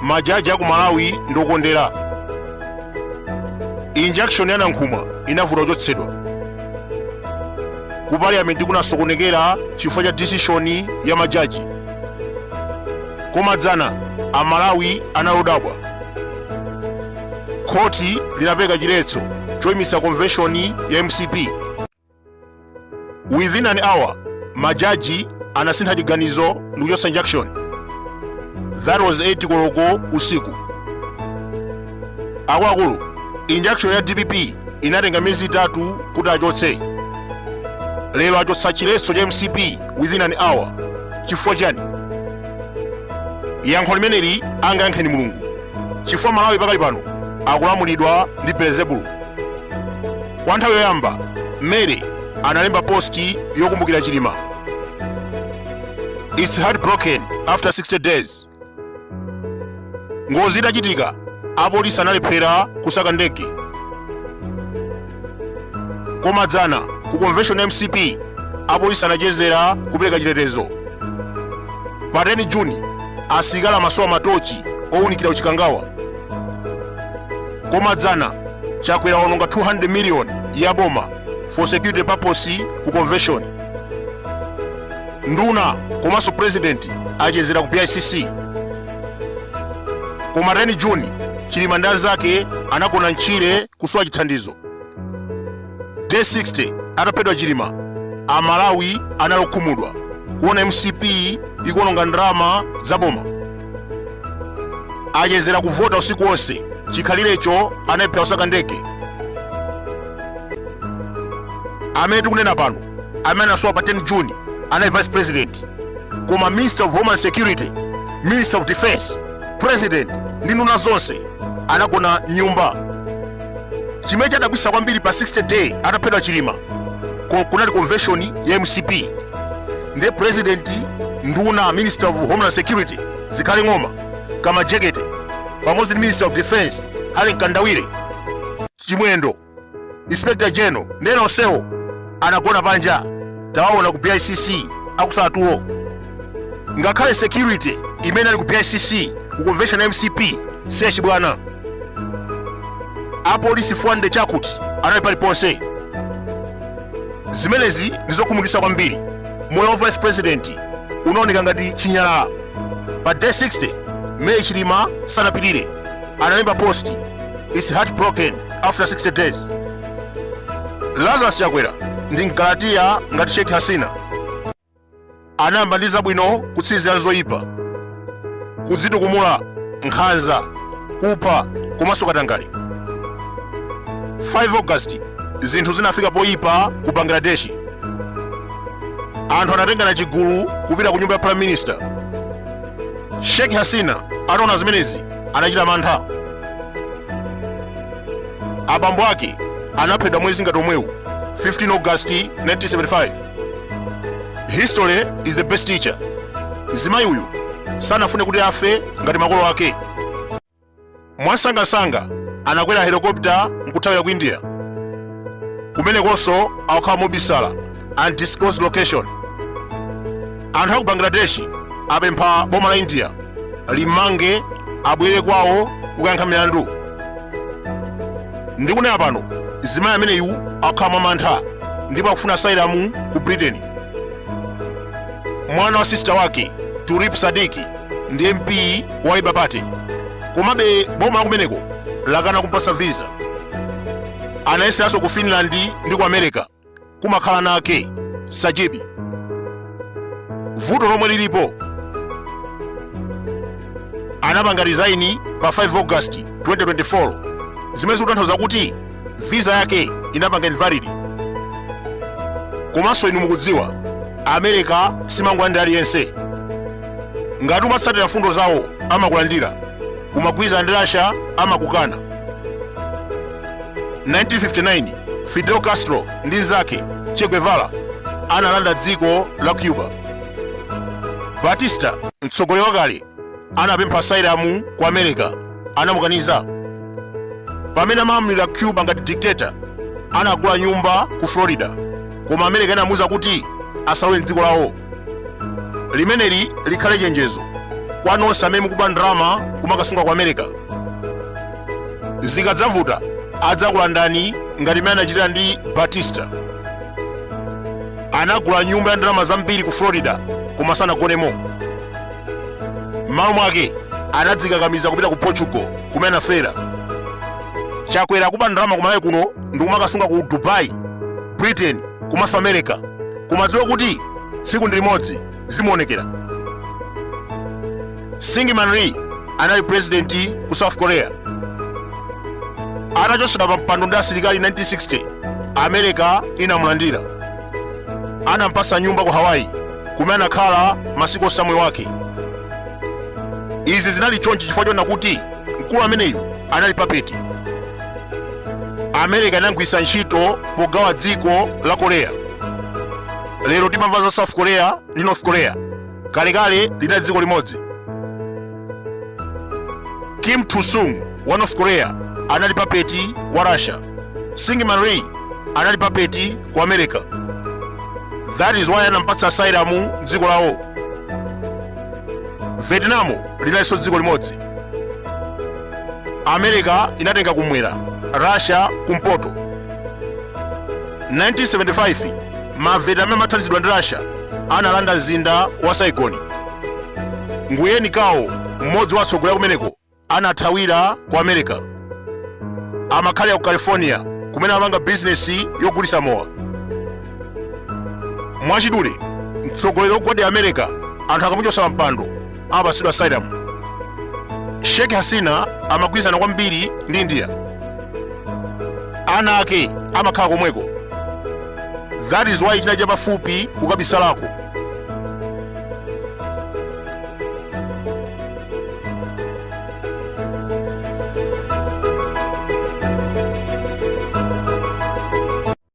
majaji aku malawi ndokondera injunction ya nankhumwa inavuta kuchotsedwa ku parliament kunasokonekera chifukwa cha decision ya majaji Koma dzana Amalawi anali odabwa. Khoti linapereka chiletso choyimitsa konveshoni ya mcp. Within an hour, majaji anasintha chiganizo ndikuchotsa injunction. That was 8 koloko usiku. akuluakulu injunction ya dpp inatenga miyezi itatu kuti achotse lero achotsa chiletso cha mcp within an hour chifukwa chani yankho limeneli angayankheni mulungu chifukwa malawi pakali pano akulamulidwa ndi belezebulu kwa nthawi yoyamba mary analemba posti yokumbukira chilima its heartbroken after 60 days ngozi itachitika apolisi analephera kusaka ndege koma dzana ku convention ya mcp apolisi anachezera kupereka chitetezo pa 10 juni asilikali amasowa matochi owunikira ku chikangawa koma dzana chakwera waononga 200 million ya boma for security purpose ku convention Nduna komanso president achezera ku BICC. Koma 10 June Chilima ndi anzake anagona mchire kusowa chithandizo. Day 60 ataphedwa Chilima, Amalawi anali okhumudwa kuona MCP ikuononga ndalama za boma. Achezera kuvota usiku wonse chikhalirecho analephera kusaka ndege. Amene tikunena pano amene anasowa pa 10 june anali vice president koma minister of homeland security minister of defense president ndi nduna zonse anagona mnyumba chimene chadabwisa kwambiri pa 60 day ataphedwa chilima kunali convention ya mcp ndi president nduna minister of homeland security zikhale ng'oma kamajekete pamodzi ndi minister of defense harry mkandawire chimwendo inspector general ndi ena onsewo anagona panja tawaona ku bicc akusala tulo ngakhale security imene ali ku bicc ku convention ya mcp si yachibwana apolisi 400 chakut anali paliponse zimenezi ndizokhumudwitsa kwambiri moyo wa vice president unaoneka ngati chinyalala pa day 60 mary chilima sanapirire analemba post is heartbroken after 60 days lazarus chakwera ndi mgalatiya ngati sheikh hasina anayamba ndi zabwino kutsirizira zoyipa kudzitukumula nkhanza kupha komanso katangale 5 august zinthu zinafika poyipa ku bangladesh anthu anatengana chigulu kupita ku nyumba ya prime minister sheikh hasina ataona zimenezi anachita mantha. Abambo ake anaphedwa mwezi ngati omwewu 15 August 1975. History is the best teacher. Mzimayi uyu sanafune kuti afe ngati makolo ake. Mwamsangamsanga anakwera helikopita nkuthawira ku India. Kumenekonso akukhala mobisala. undisclosed location anthu aku bangladesh apempha boma la india limmange abwere kwawo kukayankha milandu ndikunena pano mzimayi ameneyu akukhala mwa mantha ndipo akufuna asylum ku britain mwana wa sista wake tulip siddiq ndi mp wa labour party komabe boma la kumeneko lakana kumpatsa visa anayeseranso ku finland ndi ku america kumakhala mwana wake sajeeb vuto lomwe lilipo anapanga resign pa 5 august 2024 zimene zikutanthauza kuti visa yake inapanga invalid komanso inu mukudziwa america simangolandira aliyense ngati umatsatira mfundo zawo amakulandira umagwirizana ndi russia amakukana 1959 fidel castro ndi nzake che guevara analanda dziko la cuba batista mtsogoleri wakale anapempha asylum ku america anamukaniza pamene amalamulira cuba ngati dictator anagula nyumba ku florida koma america inamuuza kuti asalowe mdziko lawo limeneli likhale chenjezo kwa nonse amene mukuba ndalama kumakasunga ku america zikadzavuta adzakulandani ngati mmene anachitira ndi batista anagula nyumba ya ndalama zambiri ku florida koma sanagonemo m'malo mwake anadzikakamiza kupita ku portugal kumene anafera chakwera akuba ndalama kumalawi kuno ndikumakasunga ku dubai britain komanso america kumadziwa kuti tsiku ndi limodzi zimuonekera syngman rhee anali purezidenti ku south korea atachotsedwa pa mpando ndi asilikali 1960 america inamulandira anampatsa nyumba ku hawaii kumene anakhala masiku onse a moyo wake izi zinali chonchi chifukwa chona kuti mkulu ameneyu anali papeti america inamgwiritsa ntchito pogawa dziko la korea lero timamva za south korea ndi north korea kalekale linali dziko limodzi kim il sung wa north korea anali papeti wa russia syngman rhee anali papeti wa america that is why anampatsa asylum dziko lawo vietnam linalinso dziko limodzi america inatenga kumwera russia kumpoto 1975 mavietnam amathandizidwa ndi russia analanda mzinda wa saigon nguyen cao mmodzi wa atsogoleri kumeneko anathawira ku america amakhala ku california kumene amapanga bizinesi yogulitsa mowa mwachidule mtsogoleri wogwadira america anthu akamuchotsa pampando amapatsidwa asylum sheikh hasina amagwirizana kwambiri ndi india ana ake amakhala komweko that is why chinali chapafupi kukabisalako